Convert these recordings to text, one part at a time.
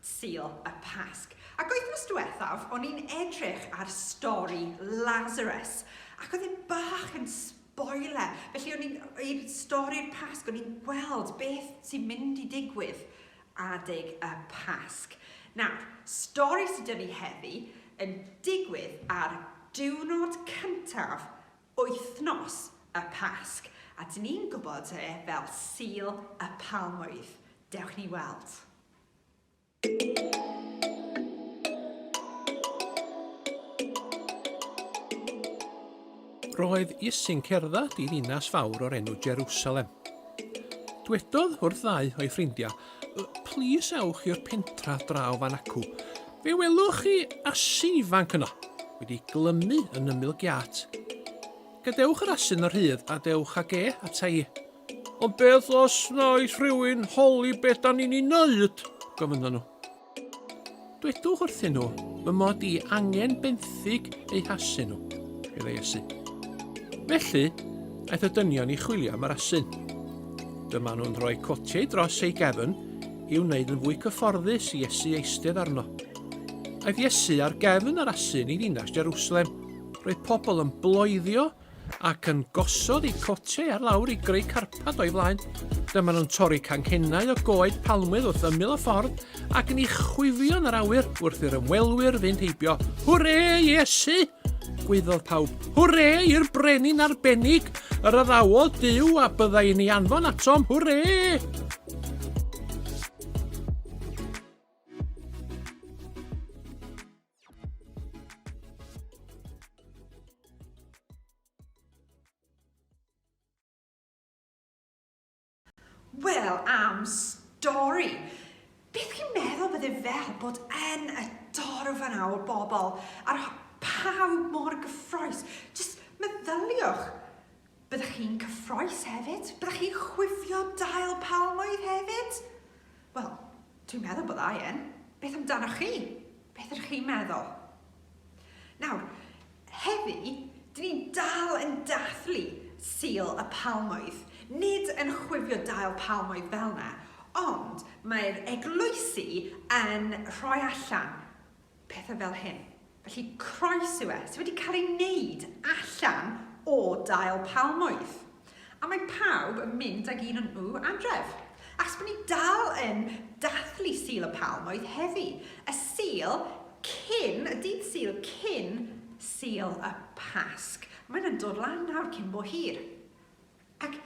Sul y Pasg. Ac wythnos diwethaf o'n i'n edrych ar stori Lazarus ac oedd e bach yn spoiler. Felly o'n i'n, i'r stori'r Pasg, o'n i'n gweld beth sy'n mynd i digwydd adeg y Pasg. Nawr, stori sydd dyn ni heddi yn digwydd ar diwrnod cyntaf wythnos y Pasg. A dyn ni'n gwybod e fel Sul y Palmwydd. Dewch ni weld. Roedd Iesu'n cerdded i ddinas fawr o'r enw Jerusalem. Dwedodd wrth ddau o'i ffrindiau, Plis ewch i'r pentra draw fan acw. Fe welwch chi asi ifanc yno, wedi glymu yn ymyl giat. Gadewch yr asyn y rhydd a dewch ag e ata i. Ond beth os wnaeth rhywun holi beth da ni'n ei wneud? gofynnon nhw. Dwedwch wrthyn nhw fy mod i angen benthyg eu hasu nhw, meddai Iesu. Felly, aeth y dynion i chwilio am yr asyn. Dyma nhw'n rhoi cotiau dros ei gefn i'w wneud yn fwy cyfforddus i Iesu eistedd arno. Aeth Iesu ar gefn yr asyn i ddinas Jerusalem. Roedd pobl yn bloeddio ac yn gosod eu cotiau ar lawr i greu carpad o'i flaen. Dyma nhw'n torri canghennau o goed palmwydd wrth ymyl y ffordd ac yn eich chwifio yn yr awyr wrth i'r ymwelwyr fynd heibio. Hwre, Iesu! Gwyddodd pawb. Hwre i'r brenin arbennig! Yr addawodd Dyw a byddai yn ei anfon atom. Hwre! Wel, am stori! Beth chi'n meddwl bydde fel bod yn y dorf yna o bobl, a'r pawb mor gyffroes. Just meddyliwch, Byddech chi'n cyffroes hefyd? Byddech chi'n chwifio dail palmwydd hefyd? Wel, dwi'n meddwl bod aien. Beth amdanoch chi? Beth ydych chi'n meddwl? Nawr, heddi, dyn ni'n dal yn dathlu Sul y Palmwydd. Nid yn chwifio dail palmwydd fel yna, ond mae'r eglwysi yn rhoi allan pethau fel hyn. Felly croes yw e, sydd wedi cael ei wneud allan o dail palmwydd. A mae pawb yn mynd ag un o'n nhw adref. Achos bod ni dal yn dathlu Sul y Palmwydd heddi, y Sul cyn, y dydd Sul cyn Sul y Pasg. Mae'n yn dod lan nawr cyn bo hir. Ac,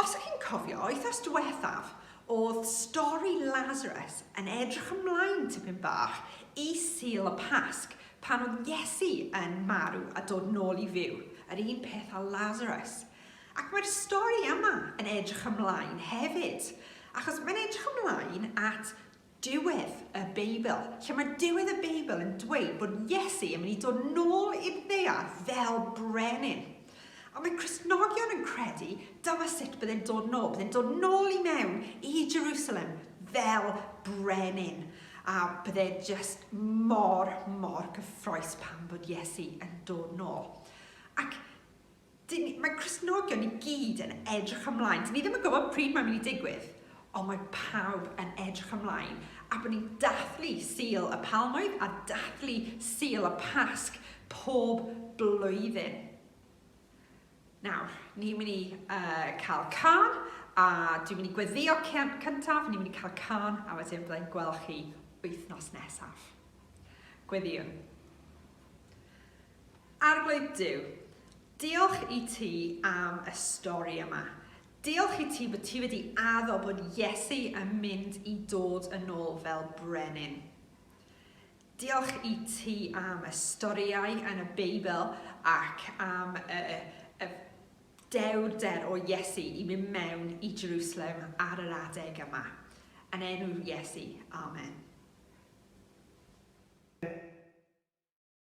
os o'ch chi'n cofio, wythnos diwethaf, o'dd stori Lazarus yn edrych ymlaen tipyn bach i Sul y Pasg, pan o'dd Iesu yn marw a dod nôl i fyw, yr un peth â Lazarus. Ac mae'r stori yma yn edrych ymlaen hefyd, achos mae'n edrych ymlaen at Diwedd y Beibl, lle mae diwedd y Beibl yn dweud bod Iesu yn mynd i dod nôl i'r ddear fel brenin. A mae Cristnogion yn credu dyma sut byddai'n dod nôl. Byddai'n dod nôl i mewn i Jerusalem fel brenin. A byddai just mor, mor gyffroes pan bod Iesu yn dod nôl. Ac Dyn ni, mae Cristnogion i gyd yn edrych ymlaen, dyn ni ddim yn gwybod pryd mae'n mynd i digwydd, ond mae pawb yn edrych ymlaen, a bod ni'n dathlu Sul y Palmwydd a dathlu Sul y Pasg pob blwyddyn. Nawr, ni'n mynd i uh, cael can, a dwi'n mynd i gweddio cyntaf, ni'n mynd i cael can, a wedyn byddai'n gweld chi wythnos nesaf. Gweddiwn. Arglwydd Duw, diolch i ti am y stori yma. Diolch i ti bod ti wedi addo bod Iesu yn mynd i dod yn ôl fel brenin. Diolch i ti am y storïau yn y Beibl ac am y, y dewrder o Iesu i mynd mewn i Jerusalem ar yr adeg yma. Yn enw Iesu, amen.